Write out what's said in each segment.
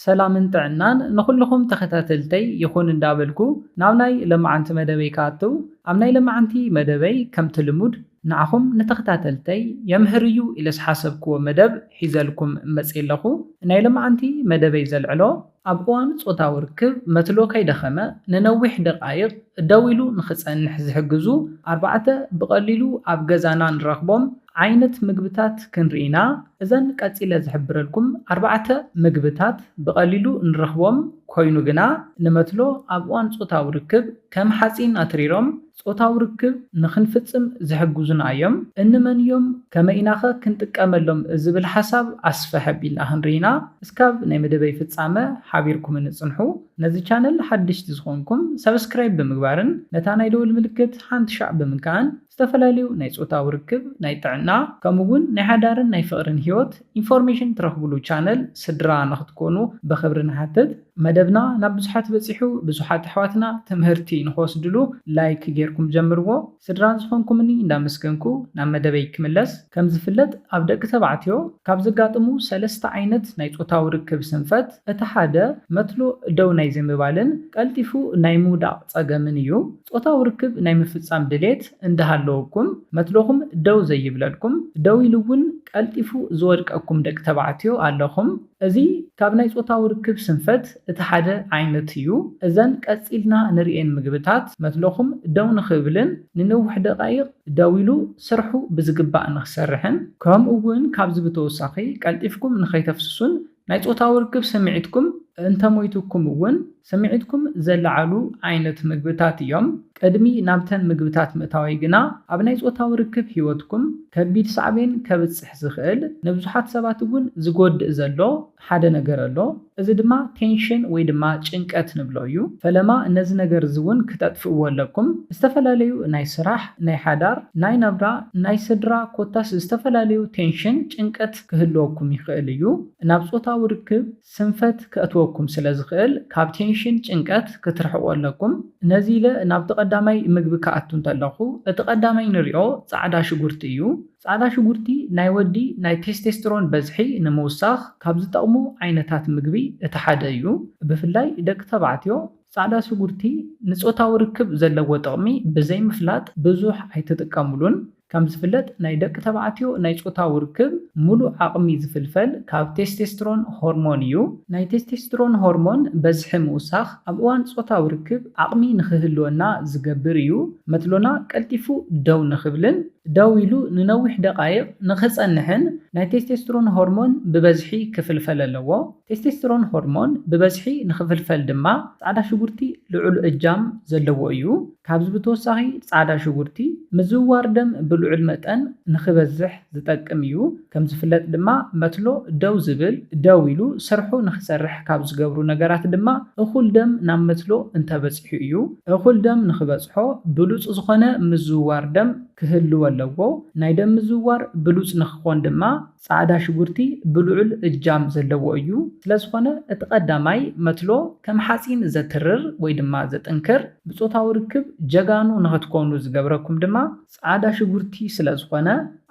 ሰላምን ጥዕናን ንኹልኹም ተኸታተልተይ ይኹን እንዳበልኩ ናብ ናይ ለማዓንቲ መደበይ ክኣትው ኣብ ናይ ለማዓንቲ መደበይ ከምቲ ልሙድ ንዓኹም ንተኸታተልተይ የምህር እዩ ኢለ ዝሓሰብክዎ መደብ ሒዘልኩም መጽየ ኣለኹ ናይ ለማዓንቲ መደበይ ዘልዕሎ ኣብ እዋን ጾታዊ ርክብ መትሎ ከይደኸመ ንነዊሕ ደቃይቅ ደው ኢሉ ንኽጸንሕ ዝሕግዙ ኣርባዕተ ብቀሊሉ ኣብ ገዛና ንረኽቦም ዓይነት ምግብታት ክንርኢ ኢና። እዘን ቀጺለ ዝሕብረልኩም ኣርባዕተ ምግብታት ብቐሊሉ ንረኽቦም ኮይኑ ግና ንመትሎ ኣብ እዋን ጾታዊ ርክብ ከም ሓጺን ኣትሪሮም ጾታዊ ርክብ ንኽንፍጽም ዝሕግዙና እዮም። እንመን እዮም ከመይ ኢናኸ ክንጥቀመሎም ዝብል ሓሳብ ኣስፍሕ ኣቢልና ክንርኢና እስካብ ናይ መደበይ ፍጻመ ሓቢርኩምኒ ጽንሑ። ነዚ ቻነል ሓደሽቲ ዝኾንኩም ሳብስክራይብ ብምግባርን ነታ ናይ ደወል ምልክት ሓንቲ ሻዕ ብምንካእን። ዝተፈላለዩ ናይ ጾታዊ ርክብ፣ ናይ ጥዕና፣ ከምኡ ውን ናይ ሓዳርን ናይ ፍቕርን ህይወት ኢንፎርሜሽን ትረኽብሉ ቻነል ስድራ ንኽትኮኑ ብኽብሪ ንሓትት። መደብና ናብ ብዙሓት በጺሑ ብዙሓት ኣሕዋትና ትምህርቲ ንኽወስድሉ ላይክ ጌርኩም ጀምርዎ። ስድራ ዝኾንኩምኒ እንዳመስገንኩ ናብ መደበይ ክምለስ። ከም ዝፍለጥ ኣብ ደቂ ተባዕትዮ ካብ ዘጋጥሙ ሰለስተ ዓይነት ናይ ጾታዊ ርክብ ስንፈት እቲ ሓደ መትሎ ደው ናይ ዘይምባልን ቀልጢፉ ናይ ምውዳቕ ጸገምን እዩ። ጾታዊ ርክብ ናይ ምፍጻም ድሌት እንዳሃለወኩም መትሎኹም ደው ዘይብለልኩም፣ ደው ኢሉ እውን ቀልጢፉ ዝወድቀኩም ደቂ ተባዕትዮ ኣለኹም። እዚ ካብ ናይ ጾታዊ ርክብ ስንፈት እቲ ሓደ ዓይነት እዩ። እዘን ቀጺልና ንርእየን ምግብታት መትሎኹም ደው ንኽብልን ንነዊሕ ደቓይቕ ደው ኢሉ ስርሑ ብዝግባእ ንኽሰርሕን ከምኡ እውን ካብዚ ብተወሳኺ ቀልጢፍኩም ንኸይተፍስሱን ናይ ጾታዊ ርክብ ስምዒትኩም እንተሞይቱኩም እውን ስምዒትኩም ዘለዓዕሉ ዓይነት ምግብታት እዮም። ቅድሚ ናብተን ምግብታት ምእታወይ ግና ኣብ ናይ ጾታዊ ርክብ ህይወትኩም ከቢድ ሳዕቤን ከብጽሕ ዝኽእል ንብዙሓት ሰባት እውን ዝጎድእ ዘሎ ሓደ ነገር ኣሎ። እዚ ድማ ቴንሽን ወይ ድማ ጭንቀት ንብሎ እዩ። ፈለማ ነዚ ነገር እዚ እውን ክተጥፍእዎ ኣለኩም። ዝተፈላለዩ ናይ ስራሕ፣ ናይ ሓዳር፣ ናይ ናብራ፣ ናይ ስድራ ኮታስ ዝተፈላለዩ ቴንሽን፣ ጭንቀት፣ ክህልወኩም ይኽእል እዩ። ናብ ጾታዊ ርክብ ስንፈት ከእትወኩም ስለ ዝኽእል ካብ ቴንሽን፣ ጭንቀት፣ ክትርሕቁ ኣለኩም። ነዚ ኢለ ናብቲ ቀዳማይ ምግቢ ክኣቱ እንተለኹ እቲ ቀዳማይ ንሪኦ ጻዕዳ ሽጉርቲ እዩ። ጻዕዳ ሽጉርቲ ናይ ወዲ ናይ ቴስቴስትሮን በዝሒ ንምውሳኽ ካብ ዝጠቕሙ ዓይነታት ምግቢ እቲ ሓደ እዩ። ብፍላይ ደቂ ተባዕትዮ ጻዕዳ ሽጉርቲ ንጾታዊ ርክብ ዘለዎ ጥቕሚ ብዘይምፍላጥ ብዙሕ ኣይትጥቀምሉን። ከም ዝፍለጥ ናይ ደቂ ተባዕትዮ ናይ ጾታዊ ርክብ ምሉእ ዓቕሚ ዝፍልፈል ካብ ቴስቴስትሮን ሆርሞን እዩ። ናይ ቴስቴስትሮን ሆርሞን በዝሒ ምውሳኽ ኣብ እዋን ጾታዊ ርክብ ዓቕሚ ንኽህልወና ዝገብር እዩ፣ መትሎና ቀልጢፉ ደው ንኽብልን ደው ኢሉ ንነዊሕ ደቓይቕ ንኽጸንሕን ናይ ቴስቴስትሮን ሆርሞን ብበዝሒ ክፍልፈል ኣለዎ። ቴስቴስትሮን ሆርሞን ብበዝሒ ንኽፍልፈል ድማ ጻዕዳ ሽጉርቲ ልዑል እጃም ዘለዎ እዩ። ካብዚ ብተወሳኺ ፃዕዳ ሽጉርቲ ምዝውዋር ደም ብልዑል መጠን ንክበዝሕ ዝጠቅም እዩ። ከምዝፍለጥ ድማ መትሎ ደው ዝብል፣ ደው ኢሉ ስርሑ ንክሰርሕ ካብ ዝገብሩ ነገራት ድማ እኹል ደም ናብ መትሎ እንተበፂሑ እዩ። እኹል ደም ንክበፅሖ ብሉፅ ዝኾነ ምዝውዋር ደም ክህልዎ ኣለዎ። ናይ ደም ምዝውዋር ብሉፅ ንክኾን ድማ ጻዕዳ ሽጉርቲ ብልዑል እጃም ዘለዎ እዩ፣ ስለዝኾነ እቲ ቀዳማይ መትሎ ከም ሓጺን ዘትርር ወይ ድማ ዘጥንክር፣ ብጾታዊ ርክብ ጀጋኑ ንኸትኮኑ ዝገብረኩም ድማ ጻዕዳ ሽጉርቲ ስለዝኾነ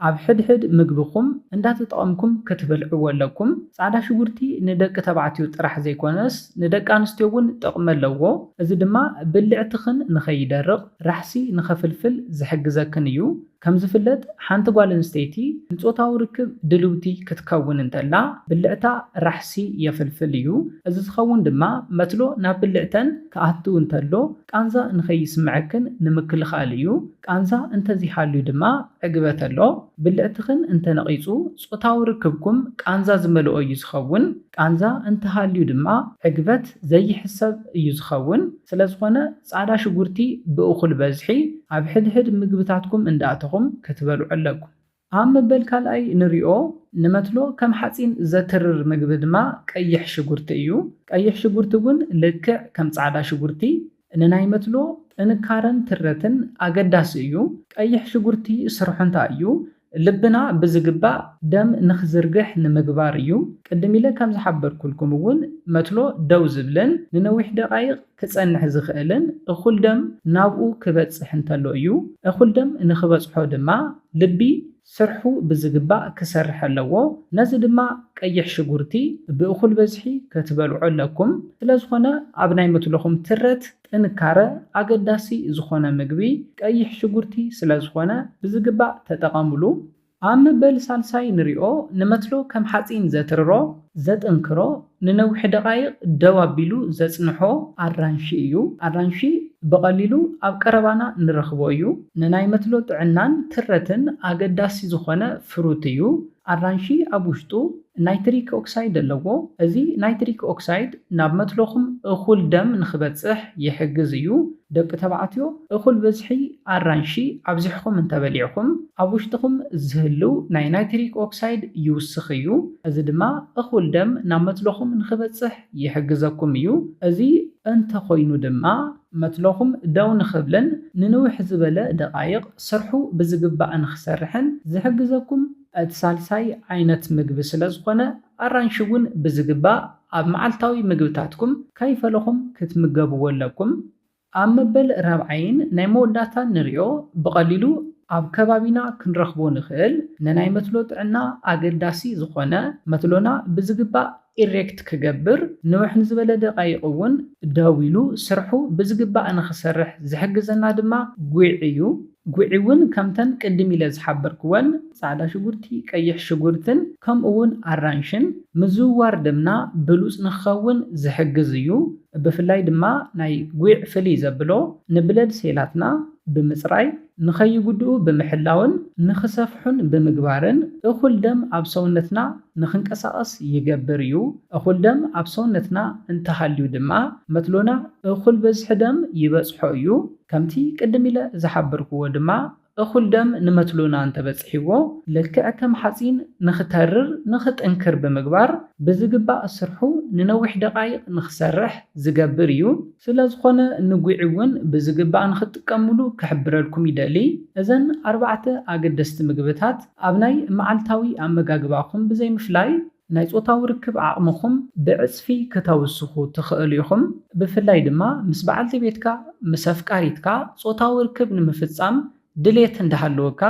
ኣብ ሕድሕድ ምግብኹም እንዳተጠቐምኩም ክትበልዕዎ ኣለኩም። ጻዕዳ ሽጉርቲ ንደቂ ተባዕትዮ ጥራሕ ዘይኮነስ ንደቂ ኣንስትዮ እውን ጥቕሚ ኣለዎ፣ እዚ ድማ ብልዕትኽን ንኸይደርቕ ራሕሲ ንኸፍልፍል ዝሕግዘክን እዩ። ከም ዝፍለጥ ሓንቲ ጓል ኣንስተይቲ ንጾታዊ ርክብ ድልውቲ ክትከውን እንተላ ብልዕታ ራሕሲ የፍልፍል እዩ። እዚ ዝኸውን ድማ መትሎ ናብ ብልዕተን ክኣቱ እንተሎ ቃንዛ ንኸይስምዐክን ንምክልኻል እዩ። ቃንዛ እንተዘይሃልዩ ድማ ዕግበት ኣሎ። ብልዕትኽን እንተነቒጹ ጾታዊ ርክብኩም ቃንዛ ዝመልኦ እዩ ዝኸውን። ቃንዛ እንተሃልዩ ድማ ዕግበት ዘይሕሰብ እዩ ዝኸውን። ስለዝኾነ ጻዕዳ ሽጉርቲ ብእኹል በዝሒ ኣብ ሕድሕድ ምግብታትኩም እንዳእተኹም ክትበልዑ ኣለኩም። ኣብ መበል ካልኣይ ንሪኦ ንመትሎ ከም ሓጺን ዘትርር ምግቢ ድማ ቀይሕ ሽጉርቲ እዩ። ቀይሕ ሽጉርቲ እውን ልክዕ ከም ጻዕዳ ሽጉርቲ ንናይ መትሎ ጥንካረን ትረትን ኣገዳሲ እዩ። ቀይሕ ሽጉርቲ ስርሑ እንታይ እዩ? ልብና ብዝግባእ ደም ንኽዝርግሕ ንምግባር እዩ። ቅድም ኢለ ከም ዝሓበርኩልኩም እውን መትሎ ደው ዝብልን ንነዊሕ ደቓይቕ ክጸንሕ ዝኽእልን እኹል ደም ናብኡ ክበጽሕ እንተሎ እዩ። እኹል ደም ንኽበጽሖ ድማ ልቢ ስርሑ ብዝግባእ ክሰርሕ ኣለዎ። ነዚ ድማ ቀይሕ ሽጉርቲ ብእኹል በዝሒ ክትበልዑ ኣለኩም። ስለዝኾነ ኣብ ናይ መትሎኹም ትረት ጥንካረ፣ ኣገዳሲ ዝኾነ ምግቢ ቀይሕ ሽጉርቲ ስለዝኾነ ብዝግባእ ተጠቐምሉ። ኣብ መበል ሳልሳይ ንሪኦ፣ ንመትሎ ከም ሓፂን ዘትርሮ፣ ዘጥንክሮ፣ ንነዊሕ ደቓይቕ ደው ኣቢሉ ዘፅንሖ ኣራንሺ እዩ። ኣራንሺ ብቐሊሉ ኣብ ቀረባና ንረኽቦ እዩ። ንናይ መትሎ ጥዕናን ትረትን ኣገዳሲ ዝኾነ ፍሩት እዩ። ኣራንሺ ኣብ ውሽጡ ናይትሪክ ኦክሳይድ ኣለዎ። እዚ ናይትሪክ ኦክሳይድ ናብ መትሎኹም እኹል ደም ንኽበጽሕ ይሕግዝ እዩ። ደቂ ተባዕትዮ እኹል ብዝሒ ኣራንሺ ኣብዚሕኹም እንተበሊዕኹም ኣብ ውሽጥኹም ዝህልው ናይ ናይትሪክ ኦክሳይድ ይውስኽ እዩ። እዚ ድማ እኹል ደም ናብ መትሎኹም ንኽበጽሕ ይሕግዘኩም እዩ። እዚ እንተኾይኑ ድማ መትሎኹም ደው ንኽብልን ንንውሕ ዝበለ ደቓይቕ ስርሑ ብዝግባእ ንኽሰርሕን ዝሕግዘኩም እቲ ሳልሳይ ዓይነት ምግቢ ስለዝኾነ፣ ኣራንሺ እውን ብዝግባእ ኣብ መዓልታዊ ምግብታትኩም ከይፈለኹም ክትምገብዎ ኣለኩም። ኣብ መበል ራብዓይን ናይ መወዳእታን ንሪኦ ብቐሊሉ ኣብ ከባቢና ክንረኽቦ ንኽእል ንናይ መትሎ ጥዕና ኣገዳሲ ዝኾነ መትሎና ብዝግባእ ኢሬክት ክገብር ንውሕ ንዝበለ ደቓይቕ እውን ደው ኢሉ ስርሑ ብዝግባእ ንኽሰርሕ ዝሕግዘና ድማ ጒዕ እዩ። ጒዕ እውን ከምተን ቅድም ኢለ ዝሓበርክወን ፃዕዳ ሽጉርቲ፣ ቀይሕ ሽጉርትን ከምኡ እውን ኣራንሽን ምዝውዋር ደምና ብሉፅ ንኽኸውን ዝሕግዝ እዩ። ብፍላይ ድማ ናይ ጒዕ ፍልይ ዘብሎ ንብለድ ሴላትና ብምፅራይ ንኸይጉድኡ ብምሕላውን ንኽሰፍሑን ብምግባርን እኹል ደም ኣብ ሰውነትና ንኽንቀሳቐስ ይገብር እዩ። እኹል ደም ኣብ ሰውነትና እንተሃልዩ ድማ መትሎና እኹል በዝሒ ደም ይበጽሖ እዩ። ከምቲ ቅድም ኢለ ዝሓበርኩዎ ድማ እኹል ደም ንመትሎና እንተበጺሕዎ ልክዕ ከም ሓጺን ንኽተርር ንኽጥንክር ብምግባር ብዝግባእ ስርሑ ንነዊሕ ደቓይቕ ንኽሰርሕ ዝገብር እዩ። ስለዝኾነ ንጒዒ እውን ብዝግባእ ንኽትጥቀምሉ ክሕብረልኩም ይደሊ። እዘን ኣርባዕተ ኣገደስቲ ምግብታት ኣብ ናይ መዓልታዊ ኣመጋግባኹም ብዘይምፍላይ፣ ናይ ጾታዊ ርክብ ዓቕምኹም ብዕጽፊ ክተውስኹ ትኽእሉ ኢኹም። ብፍላይ ድማ ምስ በዓልቲ ቤትካ፣ ምስ ኣፍቃሪትካ፣ ጾታዊ ርክብ ንምፍጻም ድሌት እንዳሃለወካ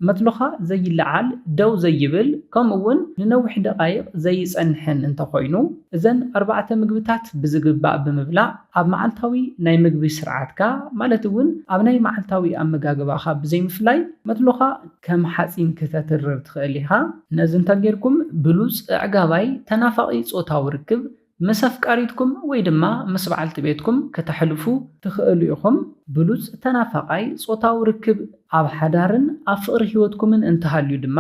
መትሎኻ ዘይለዓል፣ ደው ዘይብል፣ ከምኡ'ውን ንነዊሕ ደቓይቕ ዘይጸንሕን እንተኾይኑ፣ እዘን ኣርባዕተ ምግብታት ብዝግባእ ብምብላዕ ኣብ መዓልታዊ ናይ ምግቢ ስርዓትካ፣ ማለት'ውን ኣብ ናይ መዓልታዊ ኣመጋግባኻ ብዘይምፍላይ፣ መትሎኻ ከም ሓጺን ክተትርር ትኽእል ኢኻ። ነዚ እንተጌርኩም ብሉጽ፣ ኣዕጋባይ፣ ተናፋቒ ጾታዊ ርክብ ምስ ኣፍቃሪትኩም ወይ ድማ ምስ በዓልቲ ቤትኩም ከተሕልፉ ትኽእሉ ኢኹም። ብሉጽ ተናፋቓይ ጾታዊ ርክብ። ኣብ ሓዳርን ኣብ ፍቕሪ ህይወትኩምን እንተሃልዩ ድማ፣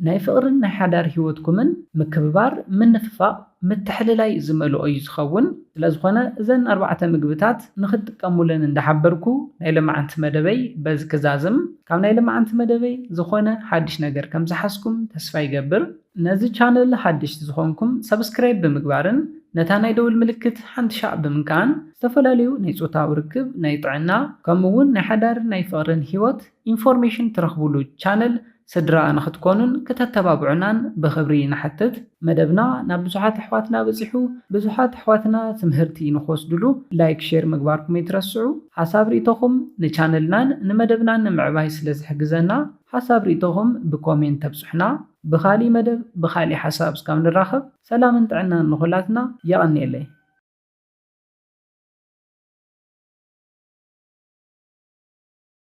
ናይ ፍቕርን ናይ ሓዳር ህይወትኩምን ምክብባር፣ ምንፍፋቕ፣ ምትሕልላይ ዝመልኦ እዩ ዝኸውን። ስለዝኾነ እዘን ኣርባዕተ ምግብታት ንኽትጥቀሙለን እንዳሓበርኩ ናይ ሎማዓንቲ መደበይ በዚ ክዛዝም። ካብ ናይ ሎማዓንቲ መደበይ ዝኾነ ሓድሽ ነገር ከምዝሓዝኩም ተስፋ ይገብር። ነዚ ቻነል ሓደሽቲ ዝኾንኩም ሳብስክራይብ ብምግባርን ነታ ናይ ደውል ምልክት ሓንቲ ሻዕ ብምንካእን ዝተፈላለዩ ናይ ፆታዊ ርክብ፣ ናይ ጥዕና ከምኡ እውን ናይ ሓዳርን ናይ ፍቕርን ህይወት ኢንፎርሜሽን ትረኽቡሉ ቻነል ስድራ ንኽትኮኑን ክተተባብዑናን ብኽብሪ ንሓትት። መደብና ናብ ብዙሓት ኣሕዋትና በፂሑ ብዙሓት ኣሕዋትና ትምህርቲ ንኽወስድሉ ላይክ ሼር ምግባርኩም ኣይትረስዑ። ሓሳብ ሪኢቶኹም ንቻነልናን ንመደብናን ንምዕባይ ስለዝሕግዘና ሓሳብ ሪኢቶኹም ብኮሜንት ተብፁሑና። ብኻሊእ መደብ ብኻሊእ ሓሳብ እስካብ ንራኸብ ሰላምን ጥዕናን ንኹላትና የቐንየለይ።